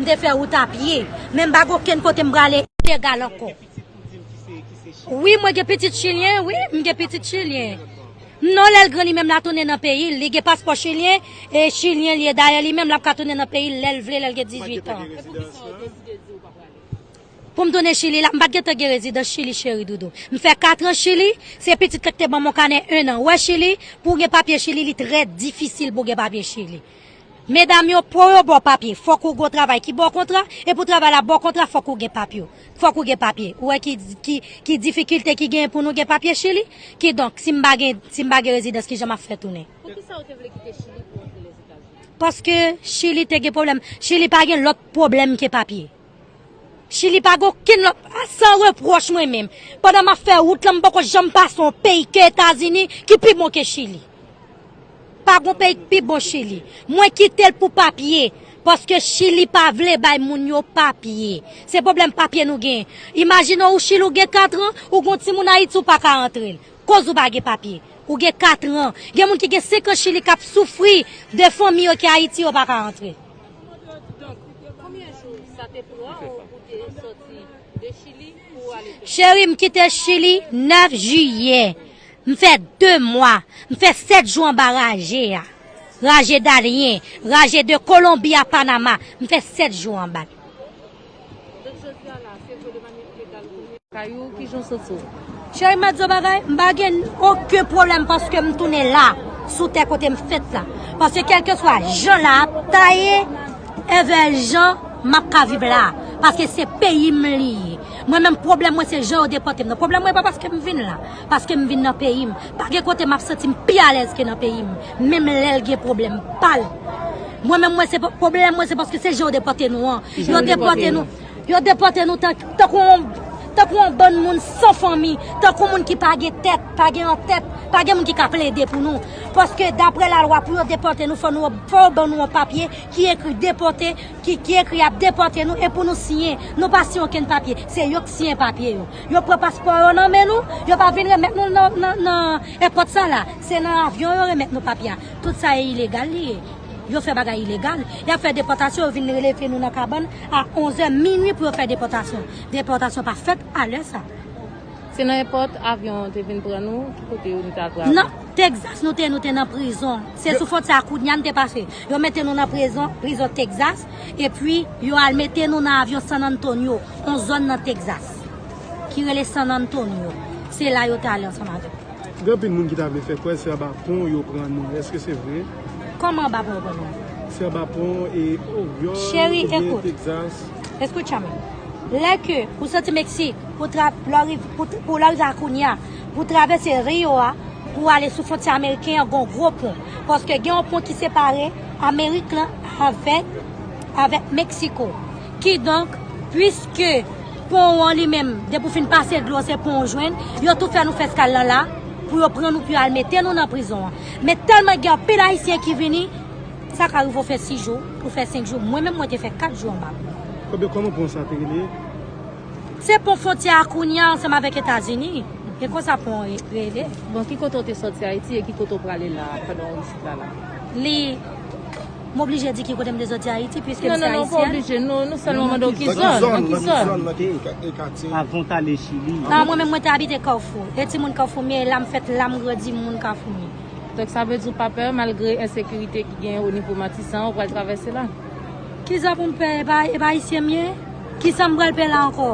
M te fè wout a pye, men m pa gen okenn kote m prale ilegal ankò. Wi mwen gen pitit chilyen wi m gen pitit chilyen non lèl gran li menm la tounen nan peyil li gen paspò chilyen e chilyen li ye dayè li menm lap ka tounen nan peyil lèl vle lèl gen 18 ans poum tounen chili la m pat gentan gen rezidans chili cheri doudou m fè 4 ans chili se pitit la ki te banm yon kanè 1 an wè chili pou gen papye chili li trè difisil pou gen papye chili. Medam yo po yo bo papye fok ou gon travay ki bo kontra e pou travay la bo kontra fok ou gen papye fok ou gen papye ou wè ki difikilte ki genyen pou nou gen papye chili ki donk si m pa gen si m pa gen rezidans kijan map fè tounen. Poukisa ou te vle kite chili pou w antre lèzetazini? Paske chili te gen pwoblèm chili pa gen lòt pwoblèm ke papye. Chili pa gen okenn lòt San repwòch mwen menm pandan map fè wout lan m poko janm pase yon peyi ke etazini ki pi bon ke chili pa gon peyi ki pi bon chili mwen kitel pou papye paske chili pa vle bay moun yo papye se pwoblèm papye nou gen imajine ou chili ou gen katran ou gon timoun ayiti ou pa ka antre l koz ou pa gen papye ou gen katran gen moun ki gen senkan chili kap soufri de fanmi yo ki ayiti yo pa ka antre. Cheri m kite chili 9 jiyè m fè 2 mwa m fè 7 jou anba raje a raje dalyen raje de kolonbi a panama m fè 7 jou anba. Cheri m ap di w yon bagay, m pa gen oken pwoblèm paske m tounen la, sou tè kote m fèt la. Paske kèlkeswa jan la ap ta ye, evè jan m ap ka viv la. Paske se peyi m li ye. Mwen menm pwoblèm mwen se jan yo depòte m nan. Pwoblèm mwen pa paske m vin la, paske m vin nan peyi m. Pa gen kote m ap santi m pi alèz ke nan peyi m. Menm lèl gen problem pal. Mwen menm mwen se problem mwen se paske se jan yo depote nou an. Yo depote nou. Yo depote nou tankou yon tankou yon bann moun san fanmi, tankou moun ki pa gen tèt, pa gen yon tèt, pa gen moun ki ka plede pou nou. Paske dapre la lwa pou yo depote nou fò nou fò yo ban nou yon papye ki ekri depote, ki ki ekri yap depote nou e pou nou siyen. Nou pa siyen okenn papye, se yo k siyen papye yo. Yo pran paspò yo nan men nou, yo pa vin remèt nou nan nan. Epòt sa la, se nan avyon yo remèt nou papye a. Tout sa e ilegal li ye. Yo fè bagay ilegal. Yap fè depòtasyon, yo vin releve nou nan kabann a 11 zè minwi pou yo fè depòtasyon. Depòtasyon pa fèt a lè sa. Se nan epòt avyon te vin pran nou, ki kote nou te al travay? Nan Texas nou te, nou te nan prizon. Se sou fwontyè a kounya nou te pase. Yo mete nou nan prezon, prizon Texas, epi yo al mete nou nan avyon San Antonio, yon zòn nan Texas. ki rele San Antonio. Se la yo te ale ansanm avèk yo. Gen anpil moun ki ta vle fè kwè se anba pon yo pran nou. Eske se vre? Kòman anba pon yo pran nou? Se anba pon e Oryòl Cheri, oubyen ekout. Texas. Escúchame. Lè ke ou soti Meksik, pou tra, lè ou riv, pou, pou lè ou rive a Acuña, pou travèse Rio a, pou ale sou fwontyè ameriken an, gon gwo pon. Paske gen yon pon ki separe Amerik lan avèk, avèk Meksiko. Kidonk, pwiske. Pon an li menm, depi ou fin pase dlo se pon ou jwenn. Yo tou fè nou fè skal lan la pou yo pran nou pou yo al mete nou nan prizon an. Men tèlman gen anpil Ayisyen ki vini, sa ka rive ou fè si jou, ou fè senk jou. Mwen menm mwen te fè kat jou anba pon an. Ebyen kòman pon sa te rele? Se pon fwontyè a kounye a ansanm avèk Etazini. E konsa pon an rele. Bon, ki kote ou te sòti Ayiti e ki kote ou prale la a pandan ou isit la la? Li. M oblije di ki kote m te soti Ayiti piske m se ayisyèn? Non, non, non, ou pa oblije. Nou sèlman mande w ki zòn. Nan ki zòn? Nan ki zòn? Nan ki zòn? Nan ki katye? Avan w t ale Chili. A Mwen menm mwen te abite Kafou. E timoun Kafoumye, e la m fèt, la m grandi, m moun Kafoumye. Donk sa vle di w pa pè malgre ensekirite ki genyen onivo Matisan ou pral travèse la? Kisa pou m pè? E pa e pa ayisyen m ye? Kisa m pral pè la ankò?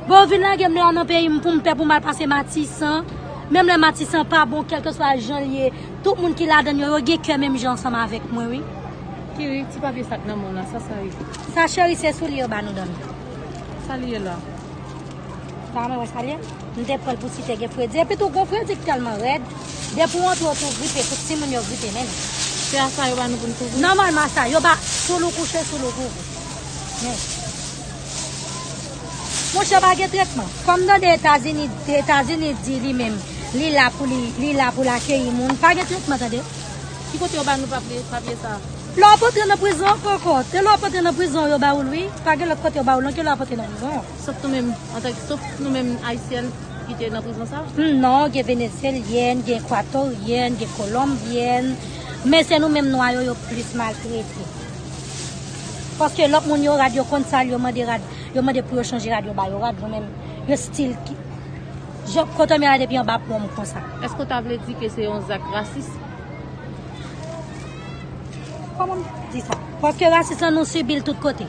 Bon yo vin lage m la nan peyi m pou m pè pou m al pase Matisan? Menm lè Matisan pa bon kèlkeswa jan l ye Tout moun ki ladann yo, yo gen kè menm jan ansanm avèk mwen wi. Kiri, ti papye sa k nan men w la, sa sa ye? Sa cheri se soulye yo ba nou dan. Sa li ye la? Ba mwen wè sa li ye. M te pran l pou si te gen fredi. Epi tou gwo fredi k tèlman rèd, depi w antre w tou gripe, tout timoun yo gripe menm. Se a sa yo ba nou pou n kouvri? Nòmalman sa. Yo ba souloukou che, souloukougou. Men. Monchè pa gen tretman. Kòm tande etazini etazini di li menm li la pou li li la pou l akeyi moun pa gen tretman tande. Ki kote yo ba nou papye papye sa. Lè wap antre nan prizon kòkòt se lè wap antre nan prizon yo ba ou l wi pa gen lòt kote yo ba ou l non ke lè wap antre nan prizon. Sof nou menm antanke sof nou menm ayisyèn ki te nan prizon sa. Humm non gen venezyelyèn gen ekwatoryèn gen kolonbyèn men se nou menm nwa yo yo plis maltrete. Paske lòt moun yo rad yo konn sal yo mande rad yo mande pou yo chanje rad yo ba yo rad yo menm yo stil ki Jan kotom ye la depi anba pom konsa. Eske w ta vle di ke se yon zak rasis? Koman m di sa? Paske rasis lan nou sibi l tout kote.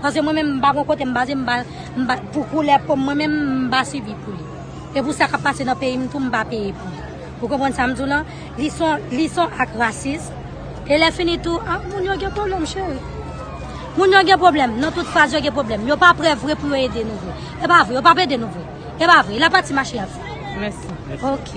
Paske mwen menm m pa gon kote m baze m pa m pa pou koulè po m mwen menm m pa sibi pou li. E pou sa k ap pase nan peyi m tou m pa peye pou li. Ou konprann sa m di w lan? Lison, lison ak rasism. E lè fini tou, ah moun yo gen pwoblèm cheri. Moun yo gen pwoblèm, nan tout faz yo gen pwoblèm. Yo pa prè vre pou yo ede nou vre. E pa vre, yo pap ede nou vre. E pa vre, la pati mache yap fè. Mèsi. Ok.